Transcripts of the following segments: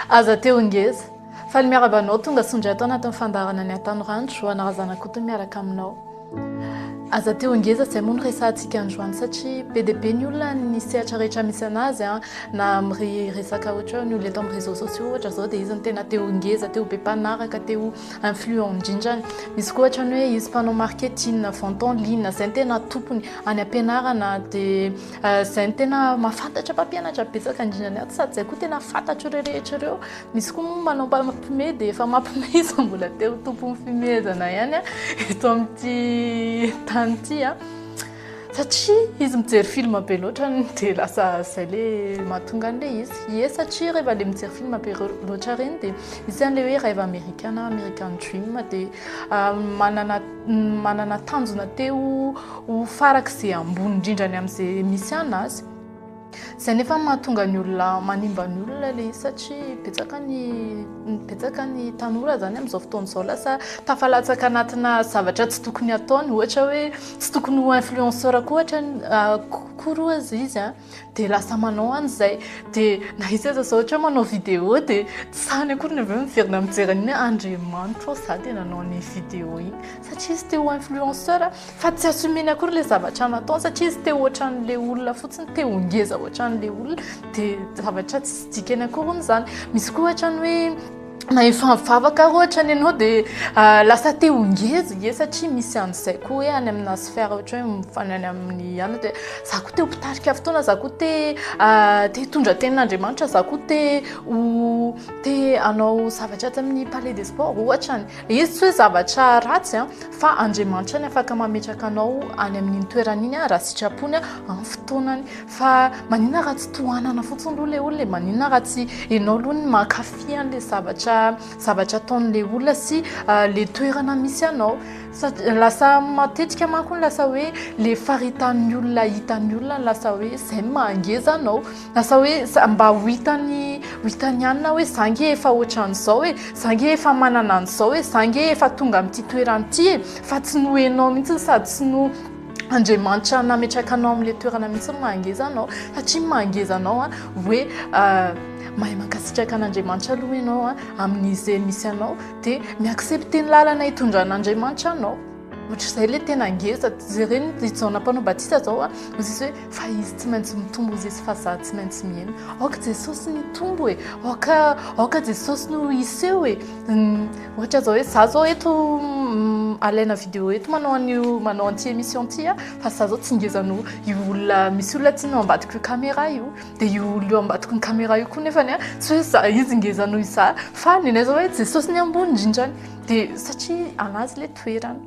Aza teo ngeza. Faly miaraba anao tonga soa indray tao anatin'ny fandaharana ny Atanorandro Johanna Razanakotony miaraka aminao. Aza teo ngeza izay moa no resahantsika androany satria be dia be ny olona ny sehatra rehetra misy anazy an, na amin'ny resaka ohatra ny olona eto amin'ny réseaux sociaux ohatra izao dia izy no tena te ho ngeza, te ho be mpanaraka, te ho influent indrindra. Misy koa ohatra ny hoe izy mpanao marketing, vente en ligne izay no tena tompony. Any am-pianarana dia Izay no tena mahafantatra mpampianatra betsaka indrindra ny ato sady izay koa tena fantatro ireo rehetra ireo. Misy koa moa manao mpampime dia efa mampime izy mbola te ho tompon'ny fimehezana ihany eto amin'ity tany ity satria izy mijery film be loatra dia lasa izay le mahatonga an'ilay izy. Ie satria rehefa ilay mijery film be loatra ireny dia misy an'ilay hoe rêve américain na American dream dia manana manana tanjona te ho ho farak'izay ambony indrindra ny amin'izay misy ana azy izay nefa mahatonga ny olona manimba ny olona le satria betsaka ny betsaka ny tanora zany amin'izao fotoan'izao lasa tafalatsaka anatina zavatra tsy tokony ataony ohatra hoe tsy tokony ho influenceur koa ohatra koa roa izy a dia lasa manao any izay dia na izy aza ohatra manao vidéo dia tsy sahany akory ny avy eo miverina mijery an'iny hoe andriamanitra ô za dia nanao an'iny vidéo iny satria izy te ho influenceur fa tsy assumeny akory ilay zavatra nataony satria izy te ho ohatran'ilay olona fotsiny te ho ngeza ohatran'ilay olona dia zavatra tsy dikany akory hono izany misy koa ohatrany hoe na efa mivavaka ary ohatra ny anao dia ah, lasa te ho ngeza ie satria misy an'izay koa hoe any amina sphère ohatra hoe mifany any amin'ny anona dia za koa te ho mpitarika fotoana za koa te ah, te hitondra tenin'Andriamanitra za koa te ho te hanao zavatra atsy amin'ny palais des sports ohatra ny le izy tsy hoe zavatra ratsy an ah, fa Andriamanitra ny afaka mametraka anao any amin'iny toerana iny ah, raha sitrapony ah, amin'ny fotoanany Fa maninona raha tsy tohanana fotsiny aloha ilay olona e? Maninona raha tsy ianao aloha no mankafy an'ilay zavatra zavatra ataon'ilay olona sy ilay toerana misy anao? Satria lasa matetika manko ny lasa hoe ilay faritan'ny olona hitan'ny olona no lasa hoe izay no mahangeza anao. Lasa hoe za- mba ho hitan'ny ho hitan'ny ihany na hoe za ange efa ohatran'izao e, za ange efa manana an'izao e, za ange efa tonga amin'ity toerana ity e, fa tsy noho ianao mihitsy sady tsy noho Andriamanitra nametraka anao amin'ilay toerana mihitsy ny maha ngeza anao satria ny maha ngeza anao hoe mahay mankasitraka an'Andriamanitra aloha ianao a amin'izay misy anao dia mi-accepter ny lalana hitondran'Andriamanitra anao, ohatr'izay ilay tena ngeza, jereo ny Jaona mpanao batisa izao a, misy hoe. Fa izy tsy maintsy mitombo hozy izy fa za tsy maintsy mihena aoka jesosy ny hitombo e aoka aoka jesosy no hiseho e ohatra zao hoe za zao eto alaina vidéo eto manao an'io manao an'ity émission ty a fa za zao tsy ngeza noho io olona misy olona tsy no ambadiko io caméra io de io olona io ambadiko ny caméra io koa nefany a tsy hoe za izy ngeza noho iza fa nenay zao hoe jesosy ny ambony indrindrany de satria anazy le toerana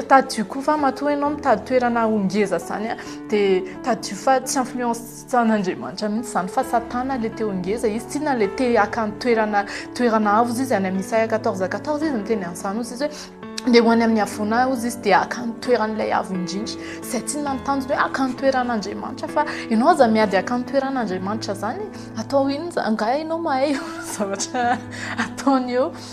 Tadidio koa fa matoa ianao mitady toerana ho ngeza izany a, dia tadidio fa tsy influence-n'Andriamanitra mihitsy izany fa Satana ilay te ho ngeza. Izy tsinona ilay te haka ny toerana toerana avo hozy izy any amin'ny Isaia quatorze quatorze izy niteny an'izany hozy izy hoe ndeha ho any amin'ny havoana ahy hozy izy dia haka ny toeran'ilay avo indrindra. Izay tsinona ny tanjony hoe haka ny toeran'Andriamanitra fa ianao aza miady haka ny toeran'Andriamanitra izany e! Atao inona izany? Angaha ianao mahay zavatra ataony eo?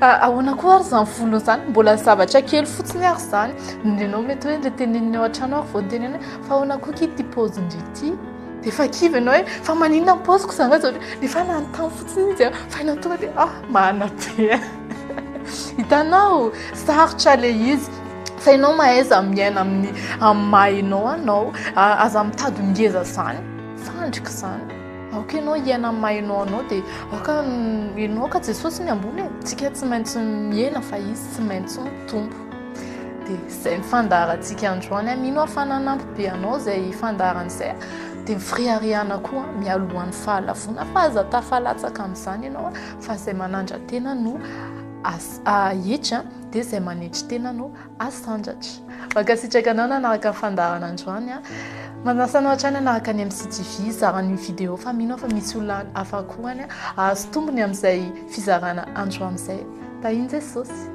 Ka ahoana koa ary izany volony izany, mbola zavatra kely fotsiny ary izany, ianao mety hoe ilay teneniny ao an-trano ary vao niteneniny hoe fa ahoana koa ity paozin-dry ity, dia efa kivy ianao hoe fa maninona ny paoziko izany raha izao, nefa nanontany fotsiny izy an, fa ianao tonga dia ah manabe an, hitanao sarotra ilay izy fa ianao mahaiza miaina amin'ny amin'ny maha ianao anao, aza mitady ho ngeza izany, fandrika izany. Aoka ianao hiaina amin'ny maha ianao anao dia aoka ianao ka Jesosy ny ambony e. Tsika tsy maintsy mihena fa izy tsy maintsy mitombo. Dia izay ny fandaharantsika androany a. Mino aho fa nanampy be anao izay fandaharana izay. Dia ny firiharihana koa mialohan'ny fahalavoana fa aza tafalatsaka amin'izany ianao fa izay manandra-tena no ahitsy dia izay manetry tena no Asandratra. Mankasitraka anao nanaraka ny fandaharana androany a. Manasa anao hatrany hanaraka ny MCTV, hizara ny vidéo fa mino aho fa misy olona hafa koa any hahazo tombony amin'izay fizarana androany izay. Tahin'i Jesosy.